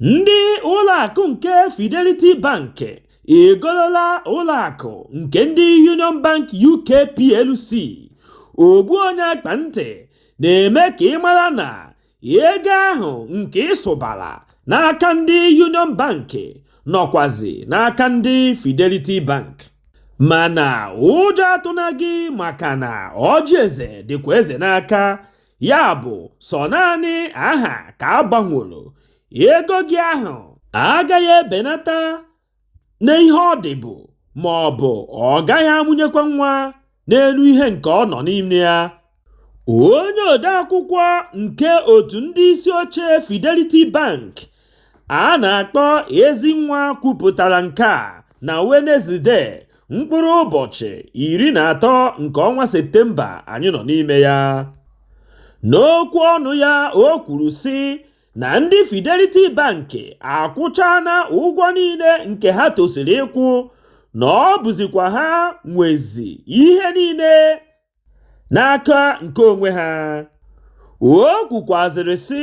Ndị ụlọakụ nke Fidelity Bank egolola ụlọakụ nke ndị Union Bank UK plc ogbu onye akpa ntị na-eme ka ị mara na ego ahụ nke ị sụbara n'aka ndị Union Bank nọkwazi n'aka ndị Fidelity Bank mana ụjọ atụna gị maka na ọjị eze dịkwa eze n'aka ya bụ sọ naanị aha ka a gbanworo ego gị ahụ agaghị ebenata n'ihe ọ dịbụ ma ọ bụ ọ gaghị amụnyekwa nwa n'elu ihe nke ọ nọ n'ime ya onye odeakwụkwọ nke otu ndị isi oche Fidelity Bank a na-akpọ Ezinwa kwupụtara nke a na Wenezde mkpụrụ ụbọchị iri na atọ nke ọnwa Septemba anyị nọ n'ime ya. N'okwu ọnụ ya o kwuru sị na ndị Fidelity Bank akwụchaana ụgwọ niile nke ha tosiri ịkwụ na ọ bụzikwa ha nwezi ihe niile n'aka nke onwe ha o kwukwazịrị sị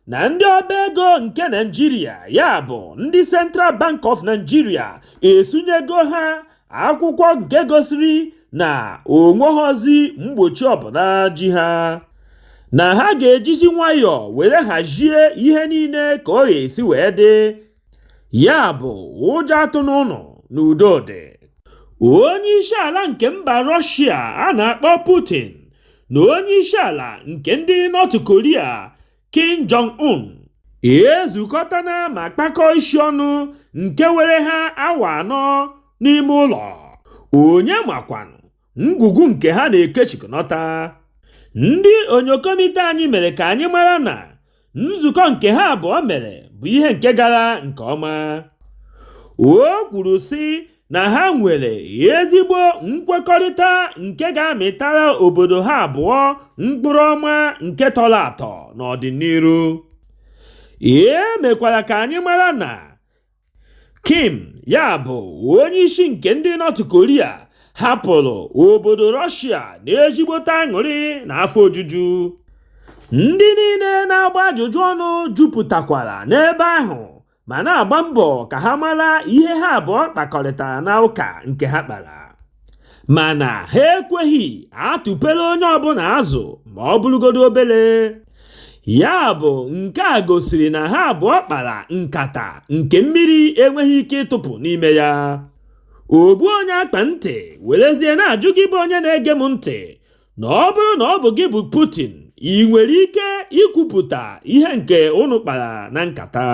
na ndị ọba ego nke Naịjirịa ya bụ ndị Central Bank of Nigeria esunyego ha akwụkwọ nke gosiri na o nweghọzi mgbochi ọbụla ji ha na ha ga-ejizi nwayọọ were hazie ihe niile ka ọ ga-esi wee dị ya bụ ụjọ atụna unu na udo dị onye isi ala nke mba rọshia a na-akpọ putin na onye isi ala nke ndị nọt koria kim jong un ezukọtana ma kpakọọ isi ọnụ nke were ha awa anọ n'ime ụlọ onye makwanụ ngwugwu nke ha na-ekechikọnọta ndị onyokomite anyị mere ka anyị mara na nzukọ nke ha abụọ mere bụ ihe nke gara nke ọma o kwuru sị na ha nwere ezigbo nkwekọrịta nke ga-amịtara obodo ha abụọ mkpụrụ ọma nke tọrọ atọ n'ọdịnihu e mekwara ka anyị mara na Kim, ya bụ onye isi nke ndị North Korea, hapụrụ obodo Russia n'ezigbote aṅụrị na afọ ojuju. Ndị niile na-agba ajụjụ ọnụ jupụtakwara n'ebe ahụ ma na-agba mbọ ka ha mara ihe ha abụọ kpakọrịtara na ụka nke ha kpara. mana ha ekweghị atụpere onye ọbụla azụ ma ọ bụrụgodu obere ya bụ nke a gosiri na ha abụọ kpara nkata nke mmiri enweghị ike ịtụpụ n'ime ya ogbu onye akpa ntị werezie na-ajụ gị bụ onye na-ege m ntị na ọ bụrụ na ọ bụ gị bụ Putin i nwere ike ikwupụta ihe nke unu kpara na nkata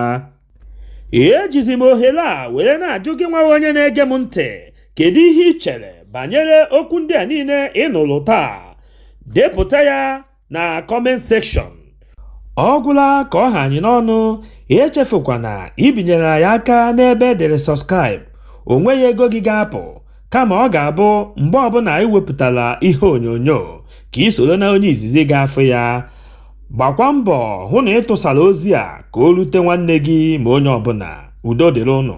ejizi m ohere a were na-ajụ gị nwa onye na-ege m ntị kedu ihe i chere banyere okwu ndị a niile ị nụrụ taa depụta ya na comment section ọ gwụla ka ọ ha anyị n'ọnụ echefukwana ibinyere anyị aka n'ebe e dere subscribe o nweghị ego gị ga-apụ kama ọ ga-abụ mgbe ọbụla anyị wepụtara ihe onyonyo ka i soro na onye izizi ga-afụ ya gbakwa mbọ hụ na ị tụsara ozi a ka o rute nwanne gị ma onye ọbụla udo dịrị unu